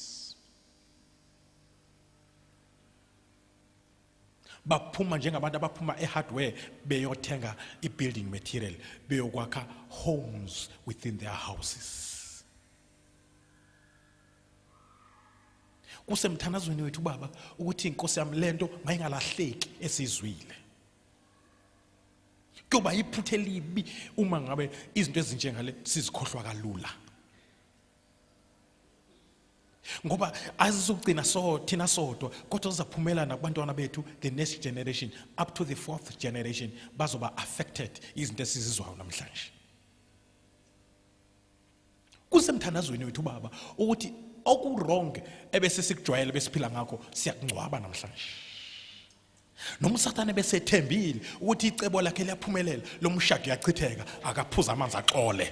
Speaker 1: baphuma njengabantu abaphuma ehardware beyothenga ibuilding material beyokwakha homes within their houses kusemthandazweni wethu baba ukuthi inkosi yami lento mayingalahleki esizwile kuyoba iphuthe libi uma ngabe izinto ezinjengale sizikhohlwa kalula ngoba azizokugcina so thina sodwa kodwa zizaphumela nakubantwana bethu the next generation up to the fourth generation bazoba affected izinto esizizwayo namhlanje kusemthandazweni wethu baba ukuthi okuwrong ebese sikujwayele besiphila ngakho siyakungcwaba namhlanje noma usathane besethembile ukuthi icebo lakhe liyaphumelela lo mshado uyachitheka akaphuza amanzi axole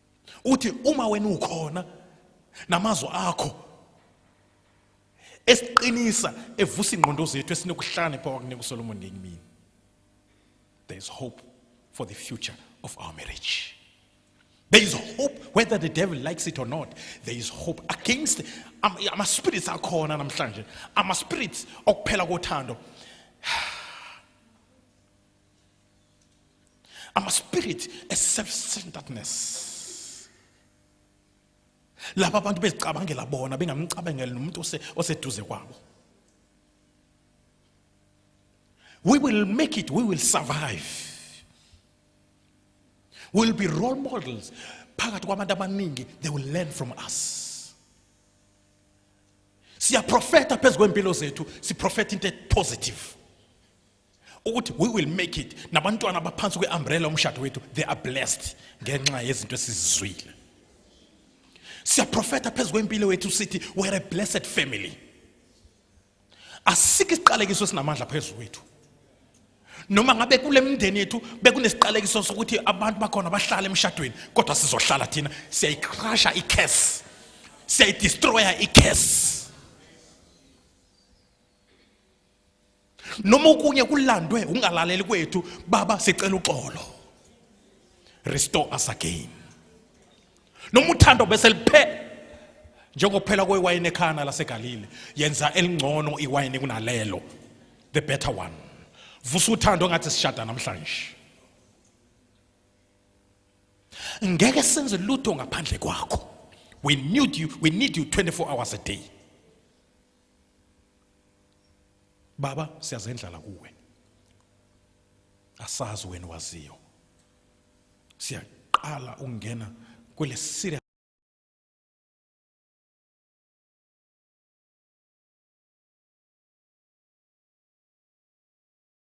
Speaker 1: uthi uma wena ukhona namazwi akho esiqinisa evusa ingqondo zethu esinokuhlane pha wakunika uSolomon ngekimini there is hope for the future of our marriage there is hope whether the devil likes it or not there is hope against ama spirits akhona namhlanje ama spirits okuphela kothando I'm a spirit a self-centeredness laba abantu bezicabangela bona bengamcabangeli nomuntu oseduze kwabo we will make it we will survive we'll be role models phakathi kwabantu abaningi they will learn from us siyaprofeta phezu kwempilo zethu siprofeta into positive ukuthi we will make it nabantwana abaphansi kwe-umbrella umshado wethu they are blessed ngenxa yezinto esizizwile siyaprofetha phezu kwempilo wethu sithi we're a blessed family asikho isiqalekiso esinamandla phezu kwethu noma ngabe kule mindeni yethu bekunesiqalekiso sokuthi abantu bakhona bahlale emshadweni kodwa sizohlala thina siyayicrasha i-case siyayidestroya i-case noma okunye kulandwe ungalaleli kwethu baba sicela uxolo restore us again noma uthando bese liphela njengokuphela kwewayini ekhana lasegalile yenza elingcono iwayini kunalelo the better one vusa uthando ngathi sishada namhlanje ngeke senze lutho ngaphandle kwakho we need you we need you 24 hours a day baba siyazendlala kuwe asazi wena waziyo siyaqala ukungena kwele serious